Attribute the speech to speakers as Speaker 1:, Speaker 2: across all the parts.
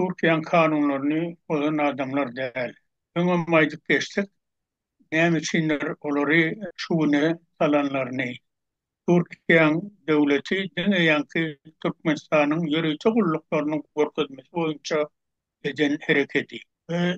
Speaker 1: Türkiýäň kanunlaryny bozan adamlar däl. Öňem aýdyp geçdik, näme üçindir olary şu güne salanlaryny. Türkiýäň döwleti diňe ýaňky Türkmenistanyň ýörite gulluklarynyň görkezmesi boýunça eden herekedi.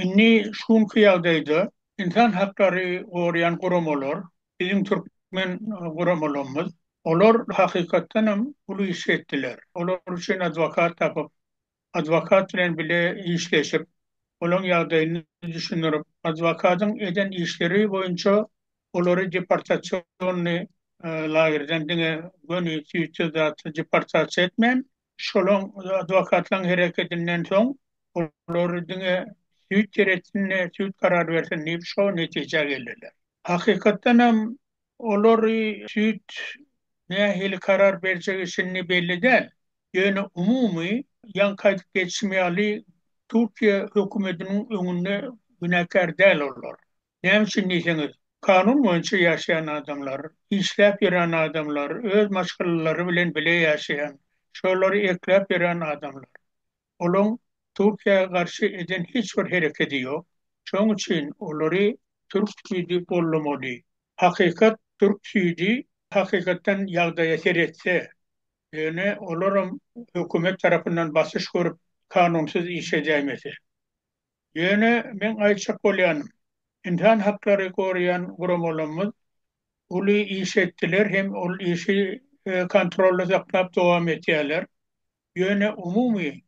Speaker 1: Indi şu günki ýagdaýda ynsan haklary goraýan guramalar, biziň türkmen guramalarymyz, olar hakykatdanam uly iş etdiler. Olar üçin adwokat tapyp, adwokat bilen bile işleşip, olaň ýagdaýyny düşündirip, adwokatyň eden işleri boýunça olary deportasionny lagerden diňe göni tüýsüz zat deportasiýa etmän, şolaň adwokatlaň hereketinden soň olar diňe süýt seretsin-de, süýt karar bersin diýip şo netijä geldiler. Hakykatdan hem olary süýt nähili karar berjegi şindi belli däl. Ýöne umumy, ýaňky aýdyp geçişim ýaly, Türkiýe hökümetiniň öňünde günäkär däl olar. Näme üçin diýseňiz, kanun boýunça ýaşaýan adamlar, işläp ýören adamlar, öz maşgalalary bilen bile ýaşaýan, şolary ekläp ýören adamlar. Olaň Türkiýä garşy eden hiç bir herekedi ýok. Şoň üçin olary türk süýdi gollamaly. Hakykat türk süýdi hakykatdan ýagdaýa seretse, ýöne olaram hökümet tarapyndan basyş görüp kanunsyz iş edäýmese. Ýöne meň aýtjak bolýanym, ynsan haklary goraýan guramalarymyz uly iş etdiler hem ol işi kontrolda saklap dowam etýärler. Ýöne umumy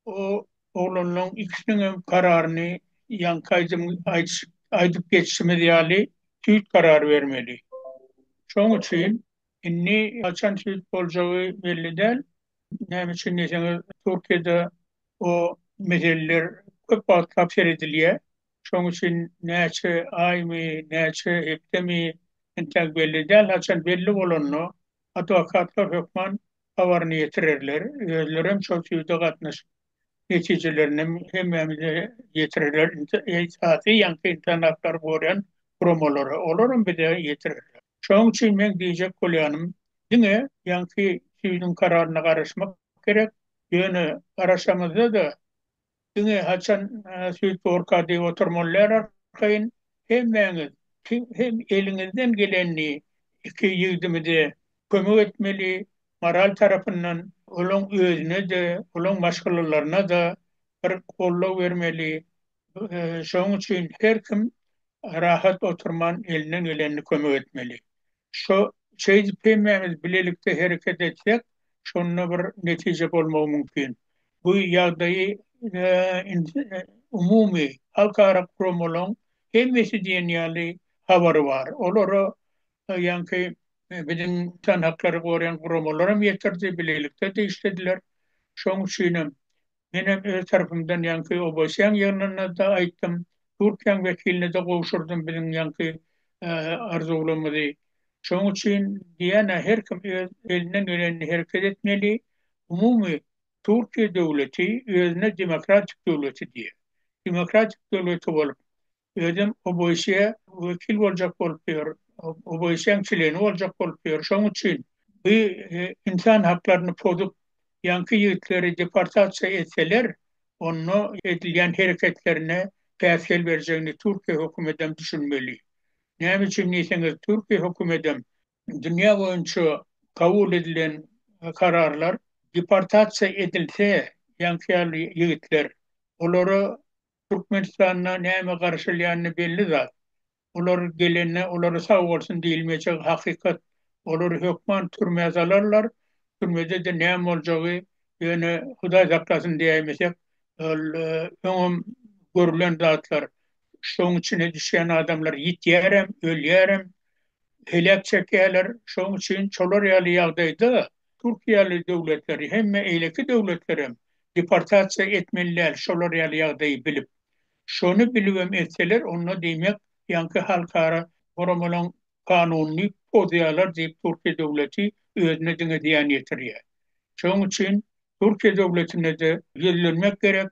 Speaker 1: o oglanlaň ikisiniňem kararyny ýaňky aýdym aýdyp geçişimiz ýaly süýt karar bermeli. Şoň üçin indi haçan süýt boljagy belli däl. Näme üçin diýseňiz, Türkiýede o meseleler köp wagtlap seredilýär. Şoň üçin näçe aýmy, näçe hepdemi entäk belli däl. Haçan belli bolanda Adwokatlar hökman habaryny ýetirerler, özlerem şol süýde gatnaşyp, netijelerini hemmämize ýetirerler, esasy ýaňky ynsan haklary goraýan guramalara, olaram bize ýetirerler. Şonuň üçin meň diýjek bolýanym, diňe ýaňky süýdüň kararyna garaşmak gerek, ýöne garaşamyzda-da, Diňe haçan süýtborka diýip oturmalylar arkaýyn hemmäňiz kim hem eliňizden gelenini iki ýigdimize kömek etmeli moral tarapyndan olaň özünede olaň maşgalalarynada bir goldaw bermeli şoň üçin her kim rahat oturman elinden gelenini kömek etmeli. Şo şeýdip hemmämiz bilelikde hereket etsek şonda bir netije bolmagy mümkin. Bu ýagdaýy umumy halkara guramalaryň hemmesi diýen ýaly habary bar. Olara ýaňky biziň insan haklary goraýan guramalar hem ýetirdi, bilelikde de işlediler. Şoň üçinem Menem öz tarapymdan ýaňky Oboseň ýygnynynda aýtdym, Türkiýäň wekiline-de gowşurdym biziň ýaňky arzuwlymyzy. Şoň üçin diýýän-ä her kim öz elinden gelenini hereket etmeli. Umumy Türkiýe döwleti özüne demokratik döwleti diýýär. Demokratik döwleti bolup, Özem OBSE wekil boljak bolup ýör, OBSE-niň çleni boljak bolup ýör. Şonuň üçin bu ynsan haklaryny pozup, ýaňky ýigitleri deportasiýa etseler, onda edilýän hereketlerine päsgel berjegini Türkiýe hökümetem düşünmeli. Näme üçin diýseňiz, Türkiýe hökümetem dünýä boýunça kabul edilen kararlar deportasiýa edilse, ýaňky ýaly ýigitler, olara Türkmenistanda näme garaşylýany belli zat. Olar gelende olara sag bolsun diýilmejek hakykat. Olary hökman türmä salarlar. Türmede-de näme boljagy ýöne Hudaý saklasyn diýäýmesek, ol öňem görülen zatlar. Şoň içine düşýän adamlar ýitýärem, ölýärem, heläk çekýärler. Şoň üçin şolar ýaly ýagdaýda Türkiýeli döwletleri hemme eýleki döwletlerem deportasiýa etmeli däl şolar ýaly ýagdaýy bilip. Şony bilibem etseler onda diýmek ýaňky halkara guramalaň kanunyny pozýalar diýip Türkiýe döwleti özüne diňe zyýan ýetirýä. Şoň üçin Türkiýe döwletine-de ýüzlenmek gerek.